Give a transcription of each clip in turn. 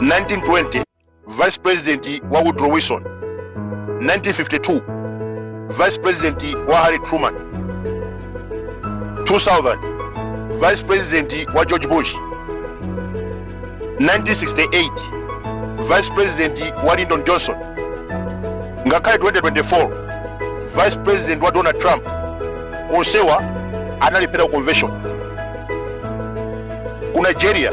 1920 vice president wa woodrow wilson 1952 vice president wa harry truman 2000 vice president wa george bush 1968 vice president wa lyndon johnson ngakhale 2024 vice president wa donald trump onsewa analephera ku convention ku nigeria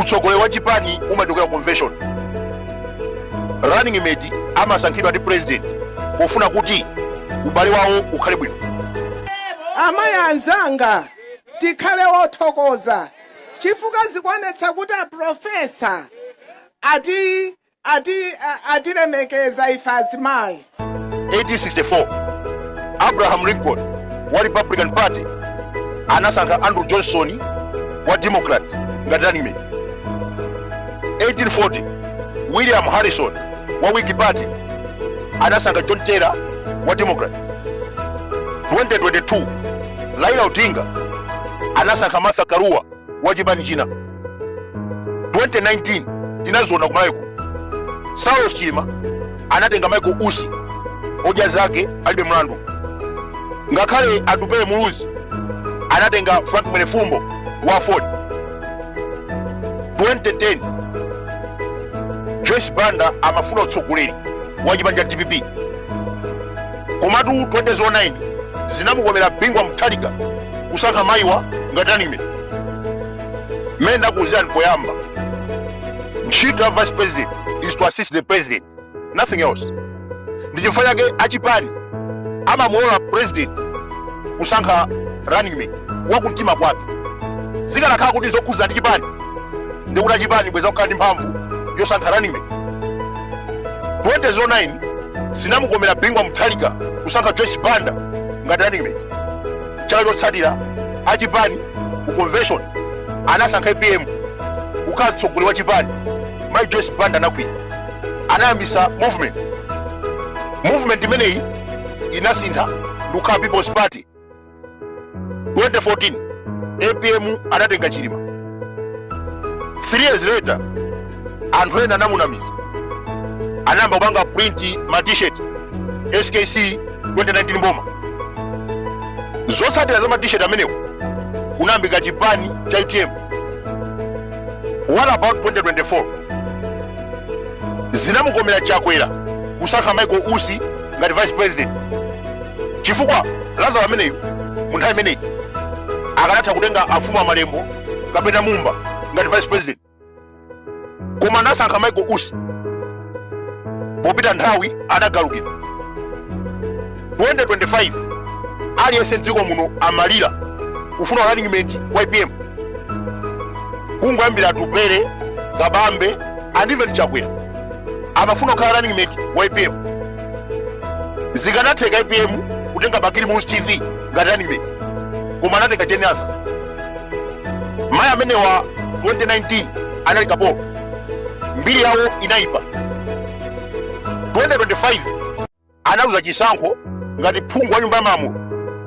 utsogoleri wa chipani umachokera convention running mate amasankhidwa ndi president pofuna kuti ubale wawo ukhale bwino amayi anzanga tikhale othokoza chifukwa zikuonetsa kuti aprofesa ati Ati atilemekeza ife azimayi. 1864 Abraham Lincoln wa Republican Party anasankha Andrew Johnson wa Democrat ngati running mate. 1840 William Harrison wa Whig Party anasankha John Taylor wa Democrat. 2022 Raila Odinga anasankha Martha Karua wa chipani china 2019 tinaziona ku malawi kuno saulos chilima anatenga michael usi odya zake alibe mlandu ngakhale atupele muluzi anatenga frank mwenefumbo wa aford 2010 joyce banda amafuna utsogoleri wa chipani cha dpp komatu 2009 zinamukomera bingu wa mutharika kusankha mayiwa ngati running mate mmene ndakuuzirani poyamba ntchito ya vice president is to assist the president nothing else ndi chifukwa chake achipani amamulola president kusankha running mate wakumtima kwake zikanakhala kuti zokhudza ndi chipani ndikuti achipani bwenzi akukhala ndi mphamvu yosankha running mate 2009 zinamukomera bingu wa mutharika kusankha joyce banda ngati running mate chaka chotsatira achipani ku convention anasankha apm kukhala mtsogoleri wa chipani mai joyce banda anakwiya anayambisa movement movement imeneyi inasintha ndikukhala people's party 2014 apm anatenga chilima 3 years later anthu ena anamunamiza anayamba kupanga print ma t-shirt skc 2019 boma zotsatira za ma t-shirt amenewo kunayambika chipani cha utm what about 2024 zinamukomera chakwera kusankha michael usi ngati vice president chifukwa lazaro ameneyu mu nthawi imeneyi akanatha kutenga afumu amalembo kapena mumba ngati vice president koma anasankha michael usi popita nthawi adagalukira 2025 aliyense mdziko muno amalira kufuna running mate wa apm kungoyambira atupele kabambe and even chakwera amafuna kukhala running mate wa apm zikanatheka apm kutenga bakili muluzi tv ngati running mate koma anatenga jane ansah mayi amenewa 2019 anali kapolo mbiri yawo inayipa 2025 analuza chisankho ngati phungu wa nyumba ya malamulo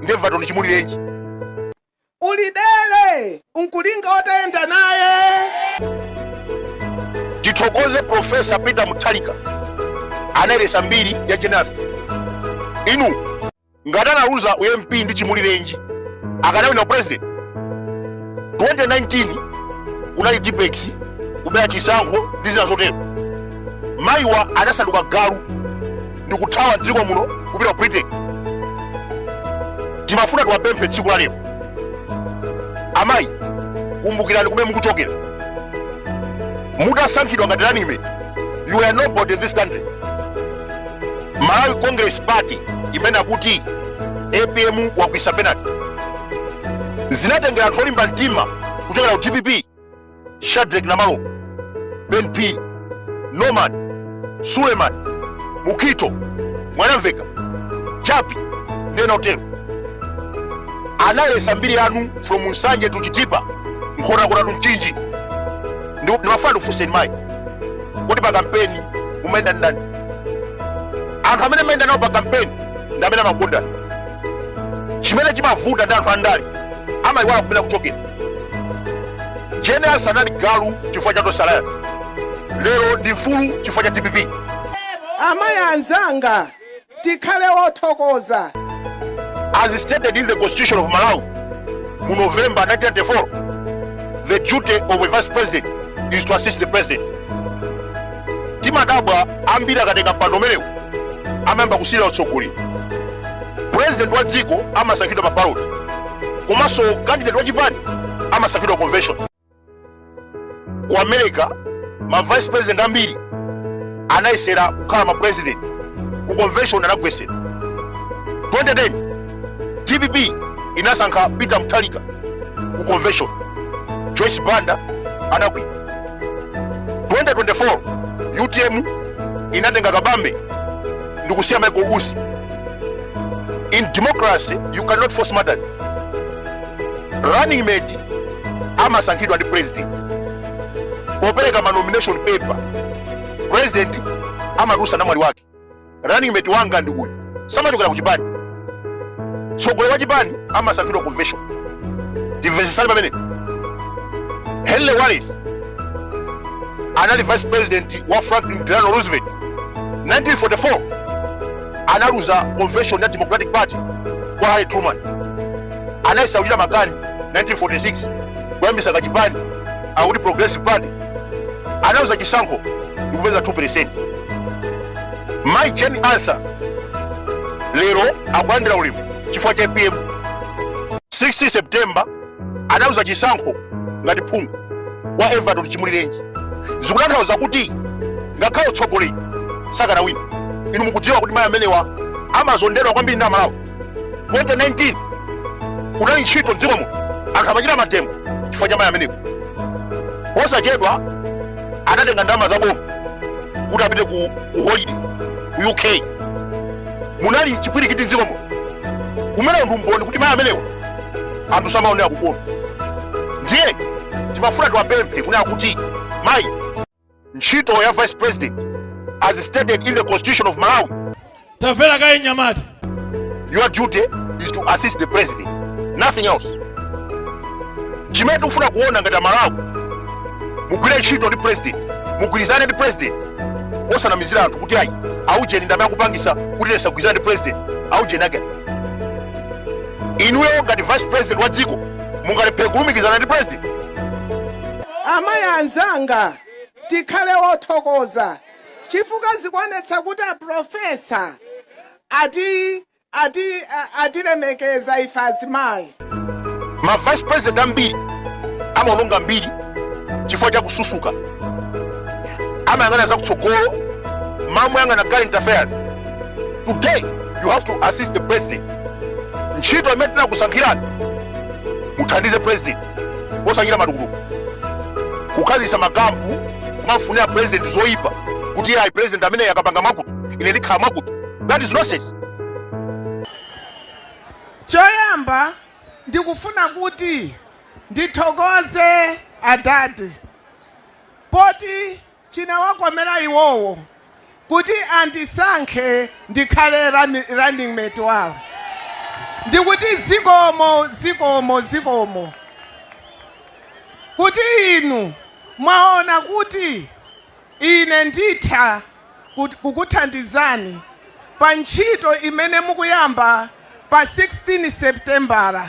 ndi everton chimulirenji Ulidere n'kulinga utayenda naye. tithokoze profesa peter mutharika anayeresa mbiri ya jane ansah inu ngati analuza u mp ndi chimulirenji akanawina u president 2019 kunali tippex kubera chisankho ndi zina zotero mayiwa anasanduka galu ndi kuthawa mdziko muno kupita ku britain ndimafuna ndiwapemphe tsiku la lero amayi kumbukirani kumene mukuchokera musanasankhidwe ngati running mate you were nobody in this country malawi congress party imene ikuti apm wakwisa penalty zinatengera anthu olimba mtima kuchokera ku dpp Shadric Namalomba, Ben Phiri, Norman, Suleiman, Mukito, Mwanamveka, Jappie, ndi ena otero. Anayeretsa mbiri yanu from Nsanje to Chitipa, Nkhotakota to Mchinji. Ndimafuna ndikufunseni mai. Kodi pa kampeni mumayenda ndi ndani? Anthu amene mumayenda nawo pa kampeni ndi amene amakukondani. Chimene chimavuta ndi anthu andale. Amayiwala kumene akuchokera. Jane Ansah anali galu chifukwa cha Tonse Alliance, lero ndi mfulu chifukwa cha dpp. Amayi anzanga, tikhale othokoza. As stated in the Constitution of Malawi mu November 1994, the duty of a vice president is to assist the president. ndimadabwa ambiri akatenga mpando umenewu amayamba kusilira utsogoleri president wa dziko amasankhidwa pa ballot komanso candidate wa chipani amasankhidwa convention ku america ma vice president ambiri anayesera kukhala ma president ku convention anagwetsedwa 2010 dpp inasankha peter mutharika ku convention joyce banda anakwiya 2024 utm inatenga kabambe ndikusiya michael usi in democracy you cannot force matters running mate amasankhidwa ndi president popereka ma nomination paper president amatulutsa namwali wake running mate wanga ndi uyu samachokera ku chipani tsogoleri wa chipani amasankhidwa convention ndimvesesani pamene henry wallace anali vice president wa franklin delano roosevelt 1944 analuza convention ya democratic party kwa harry truman anayesa kuchita makani 1946 kuyambisa kachipani akuti progressive party analuza chisankho ndikupeza 2 mayi jane ansah lero akulandira ulemu chifukwa cha apm 16 september adauza chisankho ngati phungu wa everton chimulirenji zikutanthauza kuti ngakhale utsogoleri sakanawina inu mukudziwa kuti mayi amenewa amazondedwa kwambiri ndi amalawi 2019 unali ntchito mdzikomo anthu amachita mademo chifukwa cha mayi amenewo posachedwa anatenga ndalama za boma kuti apite ku, ku holiday ku uk munali chipwirikiti mdzikomo umenewo ndi umboni kuti mayi amenewo anthu samaonera kukoma ndiye timafuna tiwapemphe kuti akuti mayi ntchito ya vice president as stated in the constitution of malawi tamvera kaye mnyamata your duty is to assist the president nothing else chimene tikufuna kuona ngati amalawi mugwire ntchito ndi president mugwirizane ndi president osanamizira anthu kuti ayi aujeni ndamene akupangisa kuti tisagwirizane ndi president aujeni ake inuyo ngati vice president wa dziko mungalephere kulumikizana ndi president amayi anzanga tikhale othokoza chifukwa zikuonetsa kuti aprofesa ati ati a- atilemekeza ife azimayi ma vice president ambiri amaononga mbiri chifukwa cha kususuka amayang'ana zakutsogolo m'malo moyang'ana current affairs today you have to assist the president ntchito imene tinakusankhirani muthandize president osachita matukutuku kukhazikitsa makampu kumafunira president zoyipa kuti ayi president amene akapanga mwakuti ine ndikhala mwakuti that is nonsense choyamba ndikufuna kuti ndithokoze adadi poti Chinawakomera iwowo kuti andisankhe ndikhale running mate wawo ndikuti zikomo zikomo zikomo kuti inu mwaona kuti ine nditha kukuthandizani pa ntchito imene mukuyamba pa 16 Sepitembala.